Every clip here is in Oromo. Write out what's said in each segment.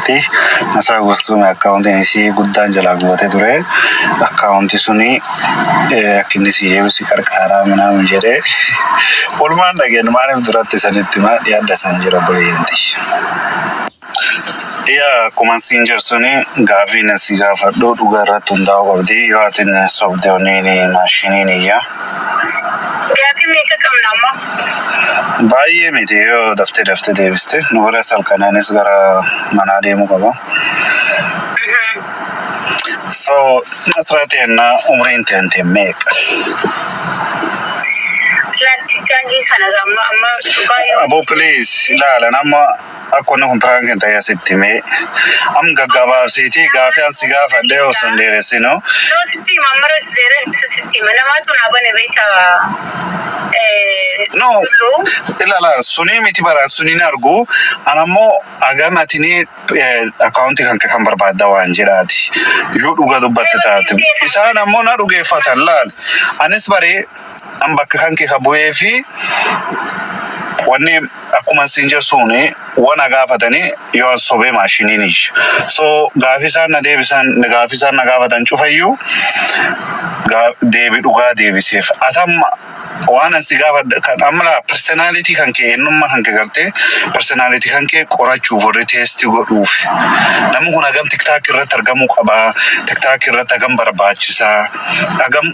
irratti Nasraa Gostuun akkaawuntiin isii guddaan jalaa gubatee ture. Akkaawuntii suni akka inni sii deebisu si qarqaaraa minaamin jedhee walumaan dhageenye maaliif duratti sanitti maa dhiyaadha san jira obboleeyyanti. Yaa akkuman siin jedhu suni gaaffiin si gaafadhu dhugaa irratti hundaa'uu qabdi. Yoo atin sobde oniin maashiniin iyya. Gaafii meeqa qabna amma? Baay'ee miti yoo daftee daftee deebiste nu biras halkan anis gara manaa deemuu qaba. So Nasraa teenna umriin teente meeqa? Laalti gaafii kana amma amma dhugaa yoo Aboo please ilaalan amma Akka wanni kun prank hin ta'ee sitti himee. Am gaggabaabsiitii gaafii an si gaafadhee osoo hin dheeressinu. No sitti hima amma irratti dheeressa sitti hima namaatu naa bane beekta No dulloo. ilala sunii miti baraan suniin argu an ammoo agam atini akkaawuntii kan kee kan barbaadda waan jedhaati yoo dhuga dubbatte taate isaan ammoo na dhugeeffatan laal anis baree An bakka kan kee ka bu'ee fi wanni akkuman siin jedhu suuni wana gaafatani yoo an sobee maashiniin iyya. So gaafii isaan na deebisan gaafii isaan na gaafatan cufayyuu gaa- deebi dhugaa deebiseef. Ati amma waan an si gaafadhe kan amma laa personality kan kee eenyummaa kan kee gartee personality kan kee qorachuuf warri test godhuuf namni kun hagam tiktaak irratti argamuu qabaa tiktaak irratti hagam barbaachisaa hagam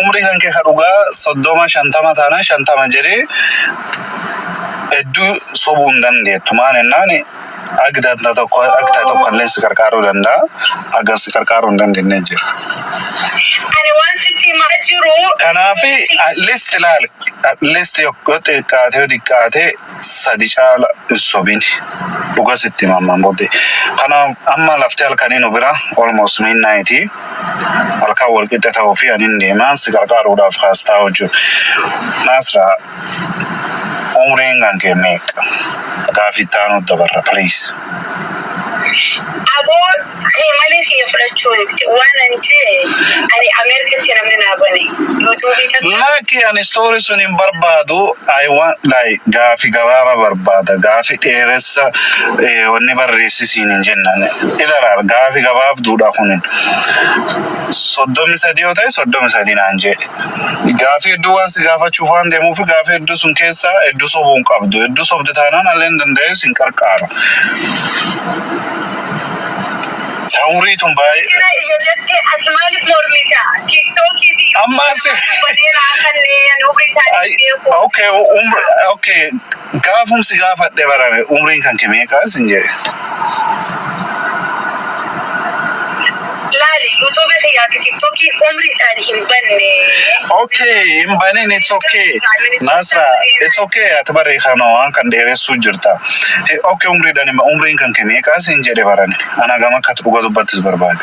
Umrii kankee ka dhugaa soddoma shantama taanaan shantama jedhee hedduu sobuu hin dandeettu. Maal jennaan ag danta tokko ag ta'e tokko illee si qarqaaruu danda'a. Agar si qarqaaruu hin dandeenye jira. Ani waan sitti himaa jiru. Kanaaf at least ilaali at least yoo xiqqaate yoo xiqqaate sadi caala hin sobini dhuga sitti hima amman bodde kana amma lafti halkani nu bira almost midnight halkan wal qixxe ta'u fi anin deema si qarqaaruudhaaf kaastaa hojju naasra umriin kan kee meeqa gaafi itti aanuu dabarra please. Aboo kee malee kiyya fudhachuu didde waanan jee ani Amerikatti namni naa bane YouTube takka. Laki ani story sun hin barbaadu I want like gaafi gabaaba barbaada gaafi dheeressa wanni barreessi siin hin jennan ilalaal gaafi gabaabduudha kunin soddomi sadii yoo ta'e soddomi sadii naan jee. Gaafii hedduu waan si gaafachuuf waan deemuuf gaafii hedduu sun keessaa hedduu sobuu hin qabdu. Hedduu sobde taanaan alleen danda'ee sin qarqaara. Tawurii tun baay'ee. Sira iyya jette ati maaliif mormita? Tiktookii fi Ammaa si. YouTube baneera kanneen umrii isaanii Ay, beeku. okay, umri, okay. Gaafum si gaafadhe barame umriin kanke meeqa sin jedhe. Laali YouTube kiyyaa fi TikTokiin umriidhaan hin banne. Okay hin banin it's okay Nasra it's okay ati baree kana waan kan dheeressuu jirta. He- Okay umriidhaan hin ba- umriin kanke meeqa sin jedhe barane. Ana gama akkati dhuga dubbattis barbaade.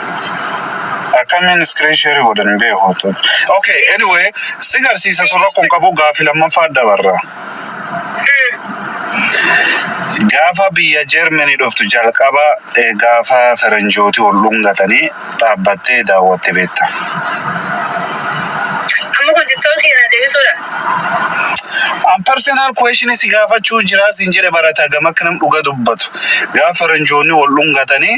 Akkamiin screen share godhan hin beeku. Okay, anyway, si garsiisa sun rakkoon qabu gaaffii lammaffaa dabarra. Gaafa biyya Jeermanii dhuftu jalqaba eh, gaafa faranjootii ol dhungatanii dhaabbattee daawwatte beekta. Amma kun jechoon keenyaa deebisuudha. An personal question si gaafachuu jiraa siin jedhe barata gama akka nam dhuga dubbatu. Gaafa faranjoonni wal dhungatanii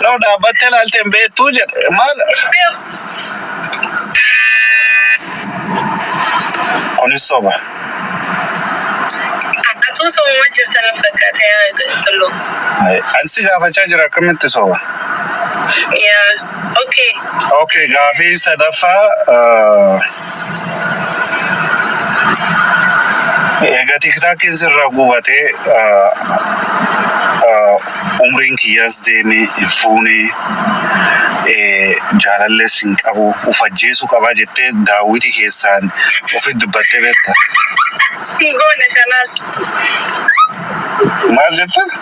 Yeroo dhaabbattee ilaalte hin beektuu jedhe. Maal? Kunis soba. Atuu sobumaa jirta na fakkaata yaa Tullu. Ay, Ani si gaafachaa jira akkamitti soba? Yaa, okay. Okay, gaafii sadaffaa. ah, Egaa tiktaakiin sirraa gubatee umriin kiyyaas deemee hin fuunee jaalallees hin qabu of ajjeesuu qabaa jettee daawwitii keessaan ofi dubbattee beekta. Sigoona kanaas. Maal jette?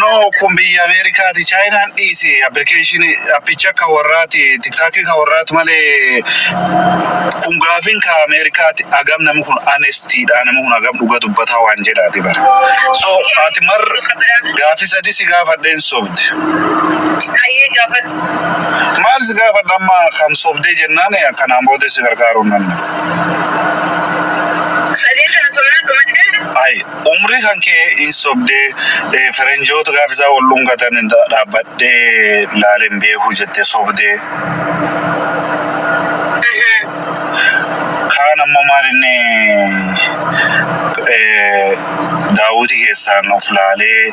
No kun biyya Ameerikaati Chaayinaan dhiisi appilikeeshinii appicha ka warraati tiktaakii ka warraati malee kun gaafiin ka Ameerikaati agam namni kun anestiidha namni kun agam dhuga dubbataa waan jedhaati bara. So ati mar gaafii sadii si gaafadheen sobde. Hayyee gaafadhu. Maal si gaafadha amma kam sobdee jennaan akkanaan booda si gargaaruu hin danda'u. Sadeen sana sobnaan dhumatee? Ayi Umrii kan kee hin sobdee eh, ferenjoota gaafa isaa wal dhungatan hin dha- dhaabbadhee laalee hin beeku jettee sobdee. Ehee. Kaan ammoo maal inni eh, daawwitii keessaan of laalee